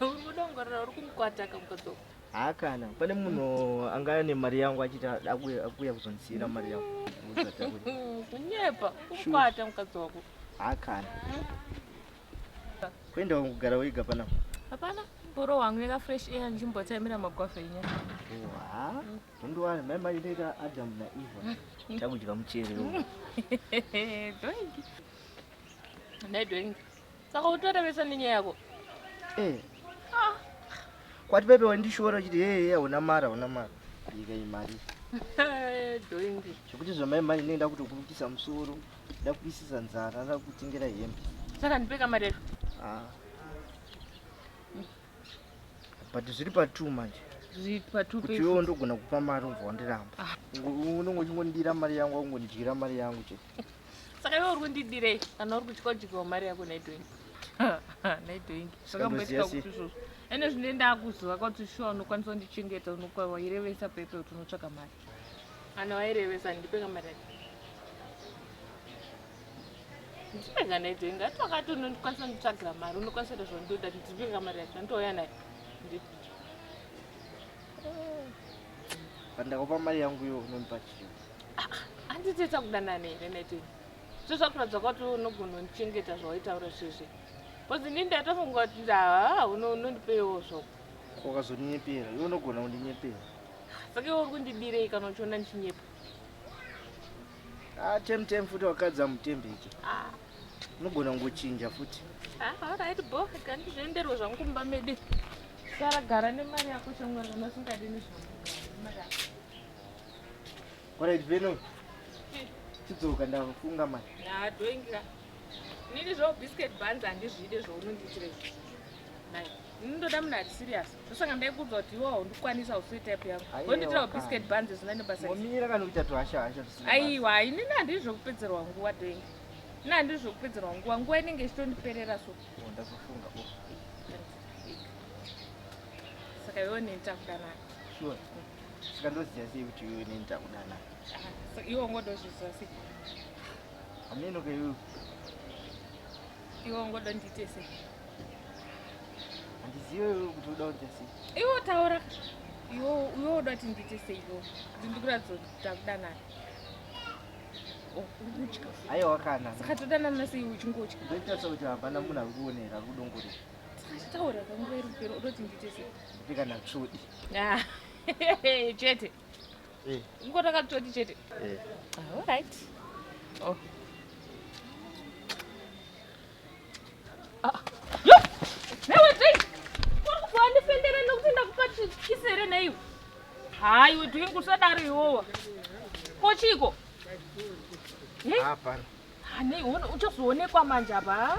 uridongorera uri kumukwataka mukadzoka haa kana pane munhu anga ane mari yangu achiti akuuya kuzondisiira mari yangu kunyepa kumukwata mukadzi wako haa kana Kwenda wangu gara wega pana. Hapana, boro wangu yeka fresh air nzvimbo taimira magwafa inya. Wa. Ndo wani mai mai ndeka Adam na Eva. Chakudya muchere. Doingi. Ndai doingi. Saka utora vesa nenyaya yako. Eh. Ah. Kwati pepe wandishora chiti hey hey hauna mara hauna mara. Ika imari. Doingi. Chikuti zvamai mai ndenda kutokurukisa musoro. ndakuisisa nzara ara kutengera hembe saka ndipe kamari yacho ah. but zviri patu manje kuti iwe undogona kupa mari ubva wandiramba ah. unenge uchingondira mari yangu akungondyira mari yangu chete saka iwe uri kundidirei kana uri kutya kudyiwa mari yako naitoingi naitoingi zvakamboitika kuti izvozvo ende zvine ndakuziva kuti shuwa unokwanisa kundichengeta unokwaiwa irevesa pepe kuti unotsvaka mari Ana wairevesa ndipe kamera. Ndipe kana ite inga twakati unondikwanisa nditsvagira mari unokwanisa ita zvandoda ndipe kamera yacho ndouya naye. Ndipe. Pandakupa mari yangu iyo unondipa chii? Handiti ah, takudanana here naite. Zvo zvakuratidza kuti unogona undichengeta zvawaitaura zvizvi. Kozi ndini ndatofunga kuti ndaa unondipeiwo zvoko. Ukazondinyepera, iwe unogona kundinyepera. Saka iwe uri kundidirei kana uchiona ndichinyepa? Ah, tem tem futi wakadza mutembe icho. Ah. Unogona kungochinja futi. Ah, all right bo, kandi zvenderwe zvangu kumba medi. Sara gara nemari yako changwa kana usingadi nezvangu. Mari yako. All right, Veno. Chidzoka ndafunga mari. Ah, doingira. Nini zvo biscuit buns handizvide zvounonditire. Nai, ndoda munhu ari serious. ndosaka ndaikuudzwa kuti iwawo ndikwanisa hausi type yangu wonditira biscuit banzi zvisina nebasomira kana kuita tuhasha hasha aiwa inini handii zvekupedzerwa nguva doing ini handii zvekupedzerwa nguva nguva inenge ichitondiperera so oh, ndazofunga oh. saka iwe neni takudanaka sure saka ndoziva sei kuti iwe neni takudanaka ah, iwe ungodozviziva sei hameno keiwe Iwe ungoda ndiite sei? Handizive iwe kuti uda kuita sei. Iwe taura. Iwe iwe uda kuti ndiite sei iwe? Kuti ndikuratidze kuti takudanana. Oh, ukutya. Ayo wakana. Saka todanana sei uchingotya? Ndoita sekuti hapana munhu akuonera kudongore. Taura kwangu iri pero uda kuti ndiite sei? Ndipika na chodi. Ah. Chete. Eh. Ngo takatoti chete. Eh. Ah, all right. Oh. Ah. Yo! Newe dai. Wani fendera nokuti ndakupati kisere nei. Hayi we doing kusadaro iwowa. Kochiko. Hapana. Hani uchazoonekwa manje apa.